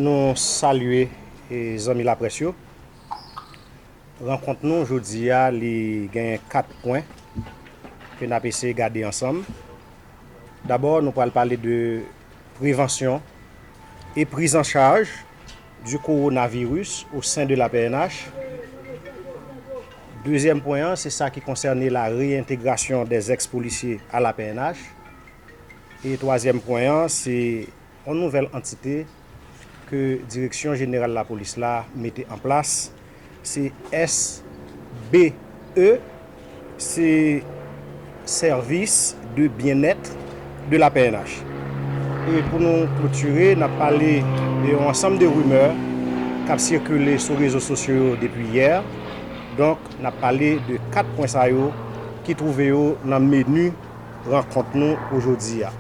Nou salye zanmi laprès yo. Rankont nou jodi a li genyen 4 pwen ke n ap eseye gade ansanm. Dabò nou pral pale de prevansyon e priz an chaj di kowonaviris o sen de la pnh. Dezyèm pwen an se sa ki konsène la reyentegrasyon dè zèks polisye a la pnh. E twazyèm pwen an se. Yon nouvèl antite ke Direksyon Jeneral Lapolis la mete an plas se SBE, se Service de Bien-Être de la pnh. E pou nou klotire, nap pale de yon ansanm de rimè kap sikile sou rezo sosyo yo depi yè. Donk, nap pale de 4 pwen sa yo ki twouve yo nan menu. rankont nou ojodi a.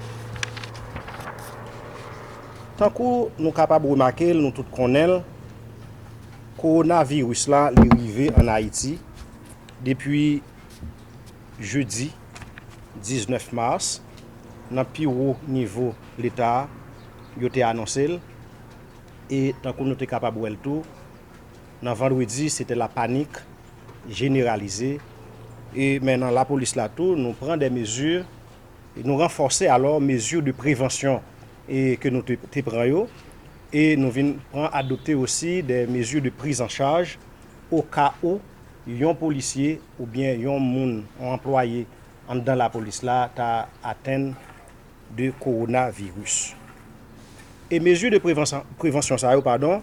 Tankou nou kapab remake l, nou tout konnen l, kowonaviris la li rive ann Ayiti depi jedi 19 mas, nan pi wo nivo Leta yo te anonse l e tankou nou te kapab wè l tou, Nan Vandredi se te la panik jeneralize e men nan lapolis la tou nou pran de mezi, nou ranfòse alò mezi de prevansyon e ke nou te pran yo e nou vin pran adopte osi de mezi de priz an chaj o ka ou yon polisye ou byen yon moun yon anplwaye anndan lapolis la ta atenn de kowona viris. E mezi de prevansyon sa yo padon.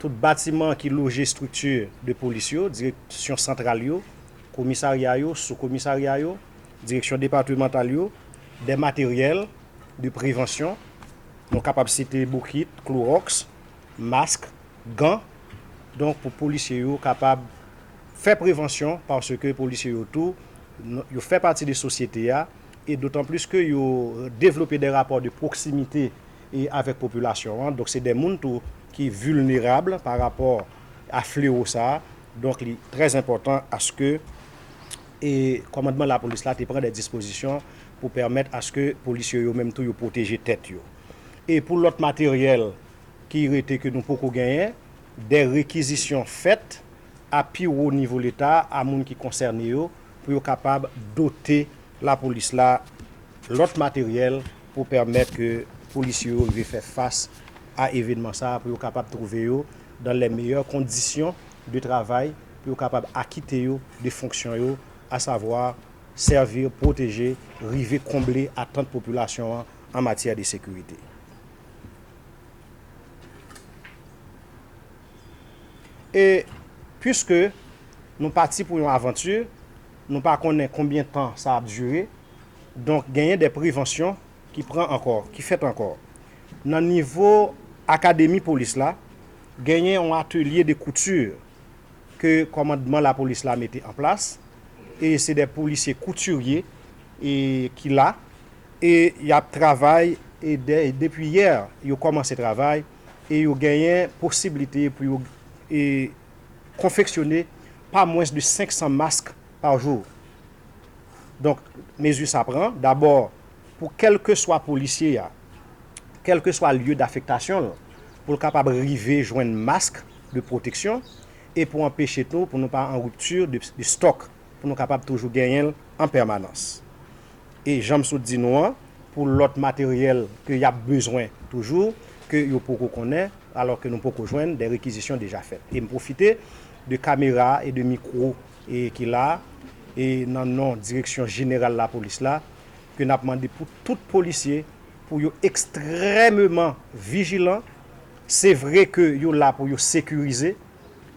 Tout batiman ki loje estrikti de polis yo, direksyon santral yo, komisarya yo, soukomisarya yo, direksyon depatimantal yo, dè materyèl de prevansyon, nou kapab site boukit, kloròks, mask, gan, donk pou polisye yo kapab fè prevansyon paske polisye yo tou yo fè pati de sosyete a e dotanplis ke yo devlope dè rapò de pwoksimite. e avèk popilasyon an, donk se de moun tou ki vilnerab pa rapò a flewo sa, donk li trè enpòtan aske e kòmandman lapolis la te pran de dispozisyon pou pèmèt aske polisye yo menm tou yo pwoteje tèt yo. E pou lòt materyèl ki rete ke nou poko genyen, de rekizisyon fèt a pi wo nivo leta a moun ki konsène yo pou yo kapab dote lapolis la lòt materyèl, pou pèmèt ke polisye yo rive fè fas a evenman sa a pou yo kapab twouve yo dan lè meyè kondisyon de travay pou yo kapab akite yo de fonksyon yo asavwa sèvi, pwoteje, rive konble atant popilasyon an an matyè de sekirite. E, pwiske nou pati pou yon avanti. Nou pa konnen konbyen tan sa ap dire, donk genyen de prevansyon ki pran ankò, ki fèt ankò. Nan nivo akademi polis la, genyen yon atelye de kouti ke kòmandman lapolis la mete an plas, e se de polisye koutirye ki la, e y ap travay, e depi yè yo kòmanse travay, e yo genyen posiblite pou yo. konfeksyone pa mwens de 500 mask pa jou. Donk, mezi sa pran, dabò, pou kèlkeswa polisye a, kèlkeswa lye dafektasyon l, pou l kapab rive jwenn mask de pwoteksyon e pou anpeche tou pou nou pa an ripti de stòk, pou nou kapab toujou genyen l an pèmanans. E janm sot di nou an, pou lòt materyèl ke yap bezwen toujou, ke yo poko konnen, alò ke nou poko jwenn, dè rekizisyon deja fèt. E m pwofite de kamera e de mikwo e ki la, e nan non direksyon jeneral lapolis la, ke nap mande pou tout polisye pou yo ekstrèmeman vijilan, se vre ke yo la pou yo sekirize,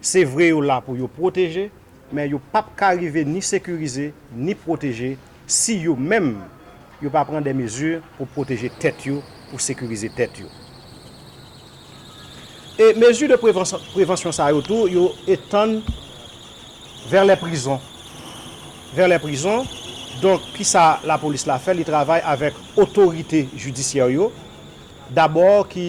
Se vre yo la pou yo pwoteje, men yo pap ka rive ni sekirize, ni pwoteje si yo menm yo pa pran dè mezi pou pwoteje tèt yo, pou sekirize tèt yo. E mezi de prevansyon sa yo tou yo etann vè lè prizon. Vè lè prizon, donk ki sa lapolis la fè? Li travay avèk otorite jidisyè yo dabò ki.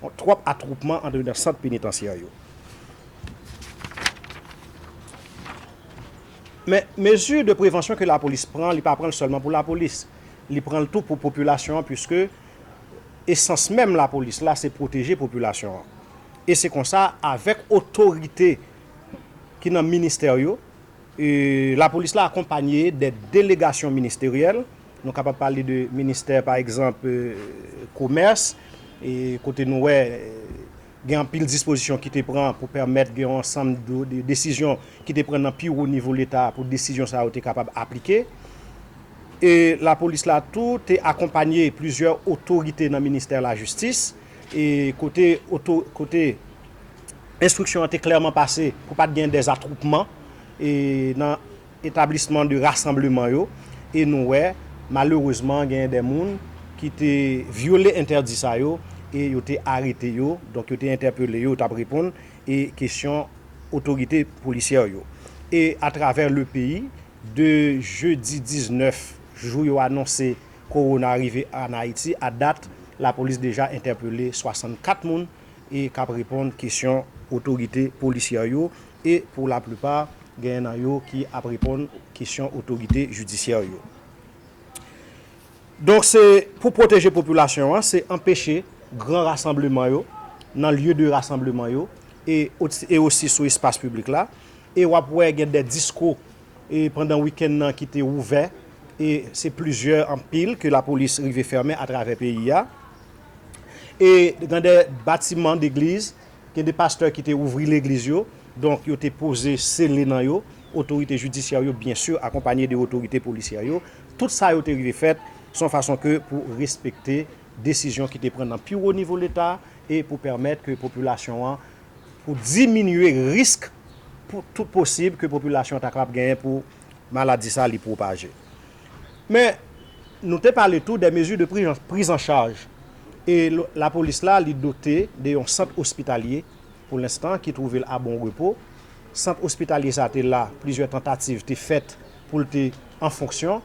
Yon twòp atwoupman antre nan sant penitansye yo. Men, mezi de prevansyon ke lapolis pran, li pa pran l sèlman pou lapolis. Li pran l tou pou popilasyon an puiske esans menm lapolis la se pwoteje popilasyon an. E se konsa avèk otorite ki nan ministè yo, Lapolis la akonpanye de delegasyon ministeryèl, nou kapab pale de ministè pa egzanp komès, kote nou wè gen anpil dispozisyon ki te pran pou pèmèt gen yon ansanm de desizyon ki te pran nan pi wo nivo leta pou desizyon sa yo te kapab aplike. E lapolis la tou te akonpanye plizyè otorite nan ministè lajistis, kote. Enstriksyon an te klèman pase pou pa t gen dezatwoupman nan etablisman de rasanbleman yo e nou wè malerezman genyen de moun ki te vyole entèdi sa yo e yo te arete yo, donk yo te entèpele yo, yo t ap reponn e kesyon otorite polisyè yo. E atravè le peyi, de jedi 19 jou yo anonse kowona rive an Ayiti a dat, lapolis deja entèpele 64 moun e k ap reponn kesyon otorite polisyè yo e pou laplipa genyen nan yo ki ap reponn kesyon otorite jidisyè yo. Donk se pou pwoteje popilasyon an, se anpeche gran rasanbleman yo nan lye de rasanbleman yo e osi sou espas piblik la e w ap wè gen de diskou pandan wikenn nan ki te ouvè e se plizyè anpil ke lapolis rive fèmen atravè peyi a. E gen de batiman degliz, gen de pastè ki te ouvri legliz yo, donk yo te poze sele nan yo, otorite jidisyè yo byen sur akonpanye de otorite polisyè yo, tout sa yo te rive fèt se yon fason ke pou respekte desizyon ki te pran nan pi wo nivo leta e pou pèmèt ke popilasyon an, pou diminye risk pou tout posib ke popilasyon ta kapab genyen pou maladi sa li pwopaje. Men, nou te pale tou de mezi de priz an chaj e lapolis la li dote de yon sant ospitalye pou lenstan ki twouve l a Bon Repo. Sant ospitalye sa te la, plizyè tantativ te fèt pou l te an fonksyon.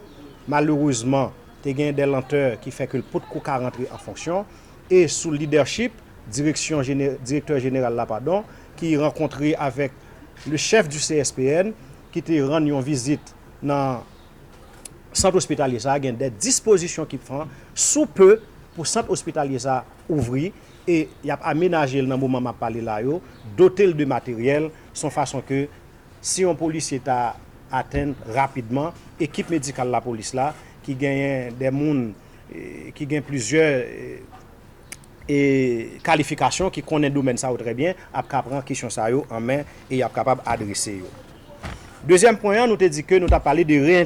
Malerezman, te gen de lantè ki fè ke l pot ko ka rantre an fonksyon e sou lidèchip direksyon, direktè jeneral la padon, ki rankontre avèk le chèf di CSPN, ki te rann yon vizit nan sant ospitalye sa gen dè dispozisyon ki pran sou peu pou sant ospitalye sa ouvri e yap amenaje l nan moman map pale la yo dote l de materyèl son fason ke si yon polisye ta atenn rapidman ekip medikal lapolis la ki genyen dè moun ki gen plizyè. e kalifikasyon ki konnen domèn sa yo trè byen ap ka pran kesyon sa yo an men e y ap kapab adrese yo. Dezyèm pwen an, nou te di ke nou t ap pale de